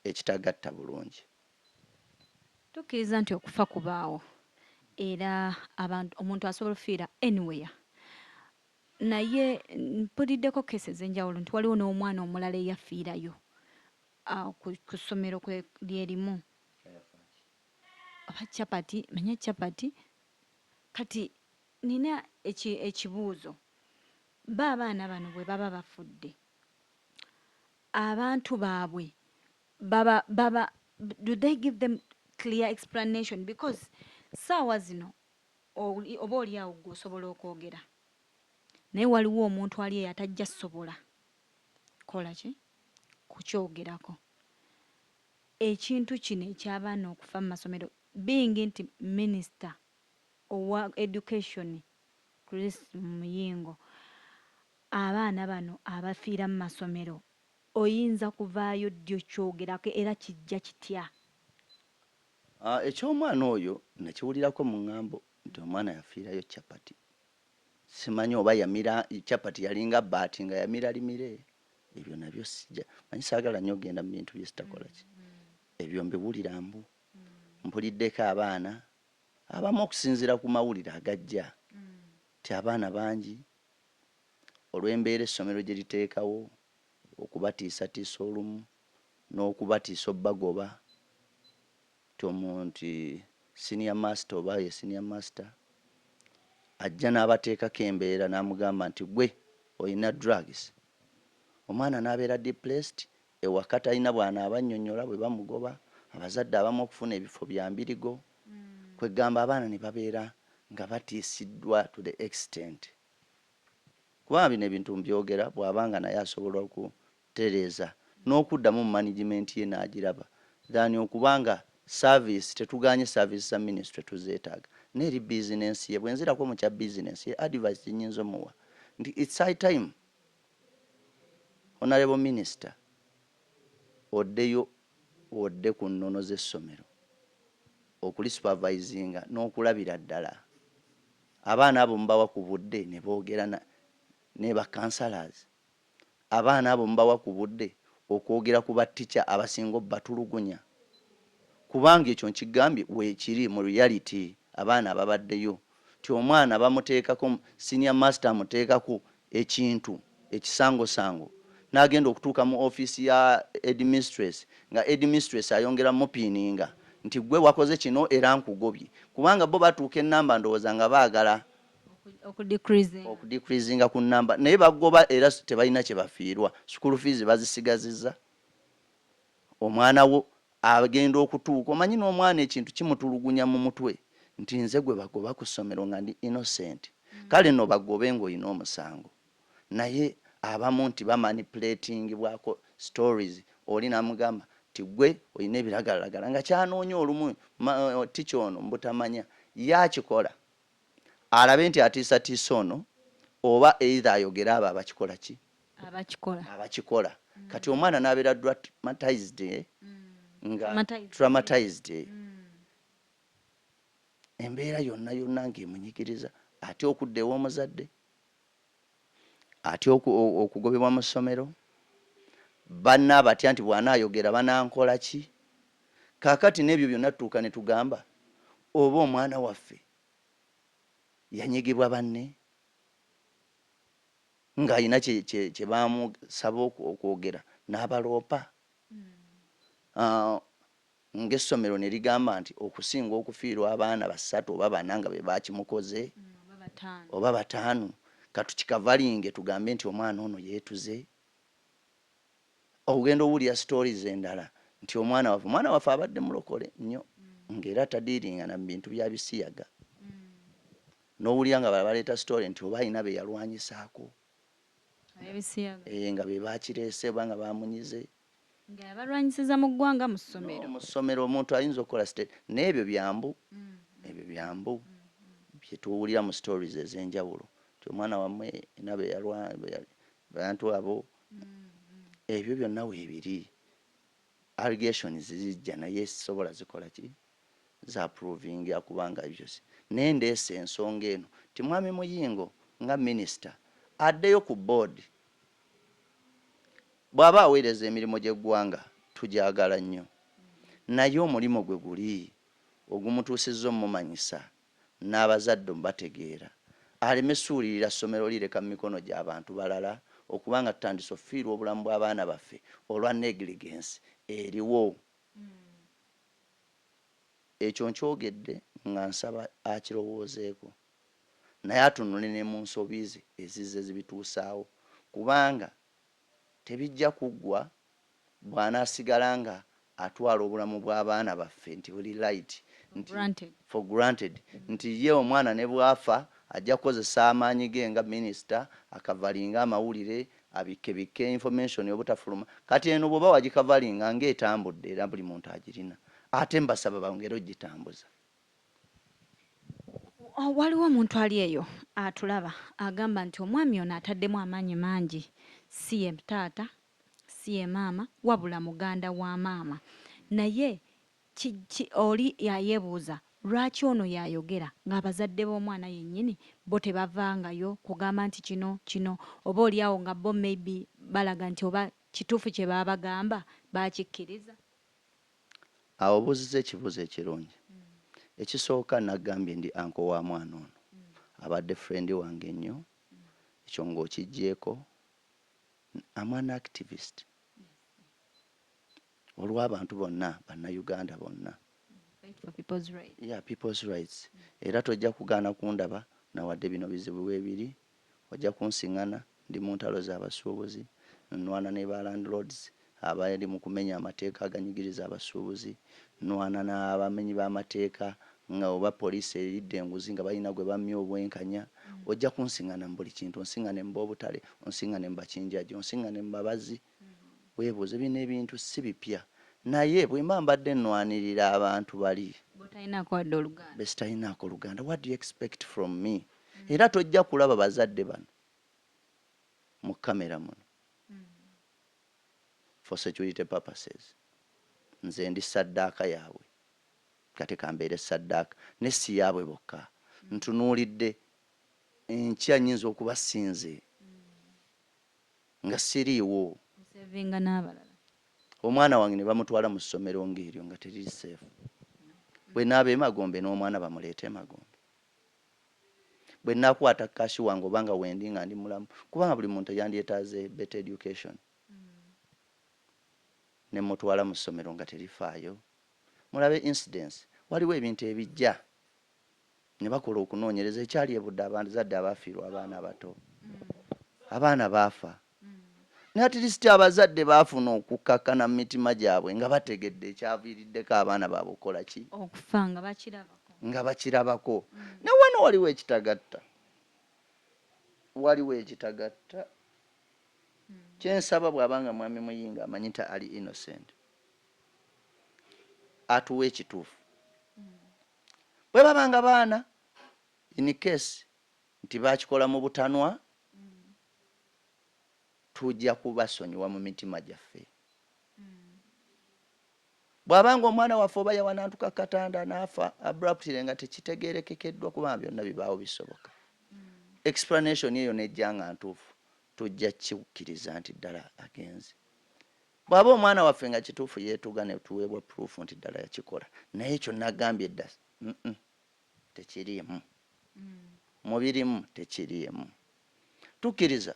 ekitagatta bulungi. Tukkiriza nti okufa kubaawo era abantu omuntu asobola ofiira anywhere naye mpuliddeko case ezenjawulo nti waliwo n'omwana omulala eyafiirayo ku ssomero lyerimu oba chapati manya chapati kati nina ekibuuzo ba abaana bano bwe baba bafudde abantu babwe baba baba do they give them clear explanation because saawa zino oba oli awo gwe osobola okwogera naye waliwo omuntu ali eyo atajja sobola kola ki kukyogerako ekintu kino ekyabaana okufa mu masomero bingi nti minisita owa education chris muyingo Abaana bano abafiira mu masomero oyinza kuvaayo ddi okyogerako era kijja kitya? Eky'omwana oyo nakiwulirako mu ngambo nti omwana yafiirayo chapati. Simanyi oba yamira chapati yalinga bbaati nga yamira limire. Ebyo nabyo sija manyi saagala nnyo kugenda mu bintu bye sitakola ki. Ebyo mbiwulira mbu. Mpuliddeko abaana abamu okusinziira ku mawulire agajja nti abaana bangi olw'embeera essomero gye liteekawo, okubatiisatiisa olumu n'okubatiisa obagoba nti omu nti senior master oba ye senior master ajja n'abateekako embeera n'amugamba nti gwe olina drugs omwana n'abeera depressed Ewaka talina bw'anaaba annyonnyola bwe bamugoba, abazadde abamu okufuna ebifo bya mbirigo, kweggamba abaana ne babeera nga batiisiddwa to the extent kubanga bino ebintu mbyogera bw'aba nga naye asobola okutereeza n'okuddamu mu management ye n'agiraba than okuba nga service tetugaanye service za ministry tuzeetaaga naye eri business ye. Bwe nzirako mu kya business ye advice gye nnyinza omuwa nti it's high time Honourable Minister oddeyo odde ku nnono z'essomero okuli supervisinga n'okulabira ddala abaana abo mubawa ku budde ne boogera ne ba councillors, abaana abo mubawa ku budde okwogera ku ba teacher abasinga obatulugunya kubanga ekyo nkigambye weekiri mu reality abaana ababaddeyo. nti omwana bamuteekako, senior master amuteekako ekintu ekisangosango n'agenda okutuuka mu office ya headmistress nga headmistress ayongera mupiininga nti ggwe wakoze kino era nkugobye kubanga bo batuuka ennamba ndowooza nga baagala okudikrizinga ku nnamba naye bagoba era tebalina kye bafiirwa school fees bazisigazizza. omwana wo agenda okutuuka omanyi n'omwana ekintu kimutulugunya mu mutwe nti nze gwe bagoba ku ssomero nga ndi innocent kale no bagobe ng'olina omusango naye abamu nti bamanipuletingibwako stories oli namugamba nti gwe olina ebiragalalagala nga kyanoonya olumu tica ono mubutamanya ye akikola alabe nti atiisatiisa ono oba either ayogere abo abakikola ki abakikola abakikola mm. kati omwana nabeera dramatized eh? mm. nga dramatized eh? mm. embeera yonna yonna ngaemunyigiriza atya okudda ew'omuzadde atya okugobebwa mu ssomero banna abatya nti bwanaayogera banankola ki kaakati n'ebyo byonna tutuuka ne tugamba oba omwana waffe yanyigibwa banne ng'alina kye, kye, kye baamusaba okwogera n'abaloopa, uh, ng'essomero ne ligamba nti okusinga okufiirwa abaana basatu oba bana nga be baakimukoze, mm, oba bataanu, katukikavalinge tugambe nti omwana ono yeetuze. Okugenda owulira stories endala nti omwana waffe omwana waffe abadde mulokole nnyo mm. ng'era tadiiringana mu bintu bya bisiyaga mm. Nowulira nga abalala baleeta story nti oba alina beyalwanyisaako nga bebakireese oba nga bamunyize. Nga yabalwanyisiza mu ggwanga, mu ssomero. No, mu ssomero omuntu ayinza okukola state naye ebyo byambu, ebyo byambu byetuwulira mu stories ezenjawulo nti omwana wamwe alina beyalwa, abantu abo, ebyo byonna webiri. Allegations zijja naye sisobola zikola ki? Za provinga kubanga ebyo si. Naye ndeese ensonga eno nti Mwami Muyingo nga Minister addeyo ku board. Bwaba aweereza emirimu gy'eggwanga tugyagala nnyo naye omulimu gwe guli ogumutuusizza omumanyisa n'abazadde omubategeera aleme suulirira ssomero lireka mu mikono gya bantu balala okuba nga tutandise ofiirwa obulamu bw'abaana baffe olwa negligence eriwo. Ekyo nkyogedde nga nsaba akirowoozeeko naye atunule ne mu nsobi ze ezizze zibituusaawo kubanga tebijja kuggwa bwanasigala nga atwala obulamu bwa baana baffe nti buli right nti for granted nti ye omwana nebwafa ajja kukozesa amaanyi ge nga minister akavalinge amawulire abikke bikke information obutafuluma kati eno bwoba wagikavalinga nga etambudde era buli muntu agirina ate mbasaba bongere ogitambuza. Waliwo omuntu ali eyo atulaba agamba nti omwami ono ataddemu amaanyi mangi si ye taata si ye maama wabula muganda wa maama naye ki ki oli ayebuuza lwaki ono yayogera nga abazadde b'omwana yenyini bo tebavangayo kugamba nti kino kino oba oli awo nga bo may be balaga nti oba kituufu kyebabagamba bakikiriza. Awo obuuzizza ekibuuzo ekirungi. Ekisooka nagambye ndi uncle wa mwana ono abadde friend wange nnyo ekyo nga okijjeeko am an activist olw'abantu bonna bannayuganda bonna ya people's rights era tojja kugaana kundaba nawadde bino bizibu bwebiri ojja kunsiŋana ndi mu ntalo z'abasuubuzi nnwana ne ba landlords abali mu kumenya amateeka aganyigiriza abasuubuzi, nnwana n'abamenyi b'amateeka nga oba poliisi eridde enguzi nga balina gwe bammye obwenkanya, ojja kunsiŋŋana mu buli kintu, onsiŋŋane mu b'obutale, onsiŋŋane mu bakinjaji, onsiŋŋane mu babazzi. Weebuuze, bino ebintu si bipya, naye bwe mba mbadde nnwanirira abantu bali be sitalinaako luganda, what do you expect from me? Era tojja kulaba bazadde bano mu kkamera muno. for security purposes nze ndi ssaddaaka yaabwe kati kambeere ssaddaaka naye si yaabwe bokka ntunuulidde enkya nnyinza okuba si nze nga siriiwo omwana wange ne bamutwala mu ssomero ng'eryo nga teriri seefu bwe naaba emagombe n'omwana bamuleeta emagombe bwenakwata cash wange oba nga wendi nga ndi mulamu kubanga buli muntu yandyetaaze better education nemutwala mu ssomero nga terifaayo mulabe incidence waliwo ebintu ebijja ne bakola okunoonyereza ekyali ebudde abazadde abaafiirwa abaana abato abaana baafa Naye at least abazadde baafuna okukkakkana mu mitima gyabwe nga bategedde ekyaviiriddeko abaana baabwe okukola ki? Okufa nga bakirabako. Nga bakirabako. Naye wano waliwo ekitagatta. Waliwo ekitagatta. Kye nsaba bw'aba nga Mwami Muyingo amanyi nti ali innocent, atuwe ekituufu. Bwe baba nga baana, in case, Nti baakikola mu butanwa, tujja kubasonyiwa mu mitima gyaffe. Bw'aba ng'omwana waffe oba yawanantuka ku katanda n'afa abruptly nga tekitegeerekekeddwa kubanga byonna bibaawo bisoboka. Explanation eyo n'ejja nga ntuufu, tujja kukikkiriza nti ddala agenze. Bw'aba omwana waffe nga kituufu yeetuga ne tuweebwa proof nti ddala yakikola, naye ekyo nagambye dda, tekiriimu, mu birimu tekiriimu. Tukkiriza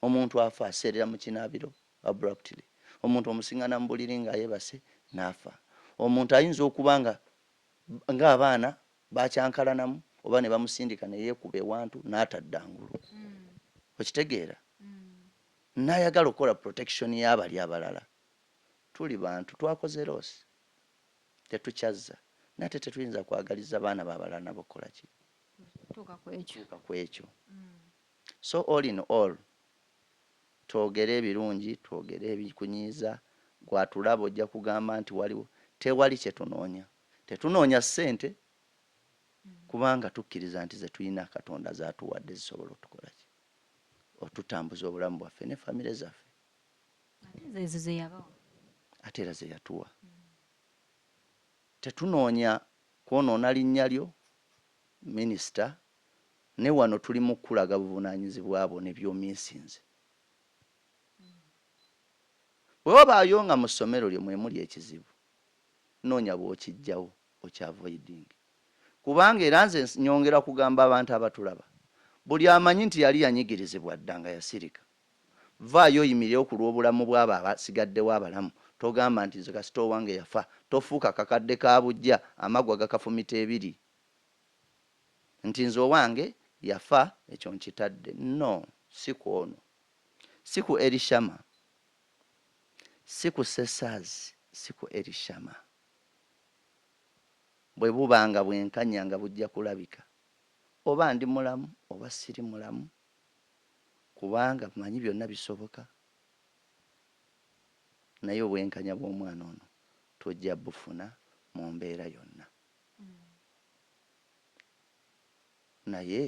omuntu afa aseerera mu kinaabiro abruptly, omuntu omusingana mu buliri nga ayebase n'afa, omuntu ayinza okuba nga nga abaana baakyankalanamu oba ne bamusindika ne yeekuba ewantu n'atadda ngulu. Okitegeera? N'ayagala okukola protection y'abali abalala. Tuli bantu, twakoze loss. Tetukyazza nate tetuyinza kwagaliza baana ba balala nabo kukola ki? Kutuuka ku ekyo. So all in all, twogere ebirungi, twogere ebikunyiiza, ggwe atulaba ojja kugamba nti waliwo, tewali kye tunoonya. Tetunoonya ssente kubanga tukkiriza nti ze tulina Katonda z'atuwadde zisobola otukola ki? Otutambuza obulamu bwaffe ne famire zaffe. Ate nze ezo zeyabawa. Ate era zeyatuwa. Tetunoonya kwonoona linnya lyo Minisita, naye wano tuli mu kukulaga buvunaanyizibwa bwo ne by'omiisinze. Bwe wabaayo nga mu ssomero lyo mwe muli ekizibu, noonya bw'okiggyawo okiavoidinge kubanga era nze nnyongera kugamba abantu abatulaba, buli amanyi nti yali yanyigirizibwa dda nga yasirika. Vvaayo oyimirewo ku lw'obulamu bw'abo abasigaddewo abalamu. Togamba nti, Nze kasita owange yafa. Tofuuka kakadde ka buggya, amaggwa gakafumita ebiri, nti, Nze owange yafa, ekyo nkitadde. No, si ku ono. Si ku Elishama. Si ku Cesar's. Si ku Elishama. Bwe buba nga bwenkanya nga bujja kulabika, oba ndi mulamu oba siri mulamu, kubanga mmanyi byonna bisoboka naye obwenkanya bw'omwana ono tujja bufuna mu mbeera yonna naye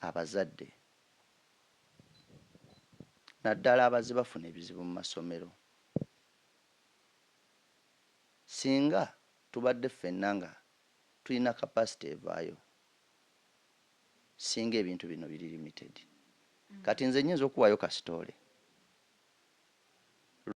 abazadde naddala abazze bafuna ebizibu mu masomero singa tubadde ffenna nga tulina kapasite evaayo singa ebintu bino biri limited kati nze nyinza okuwayo ka story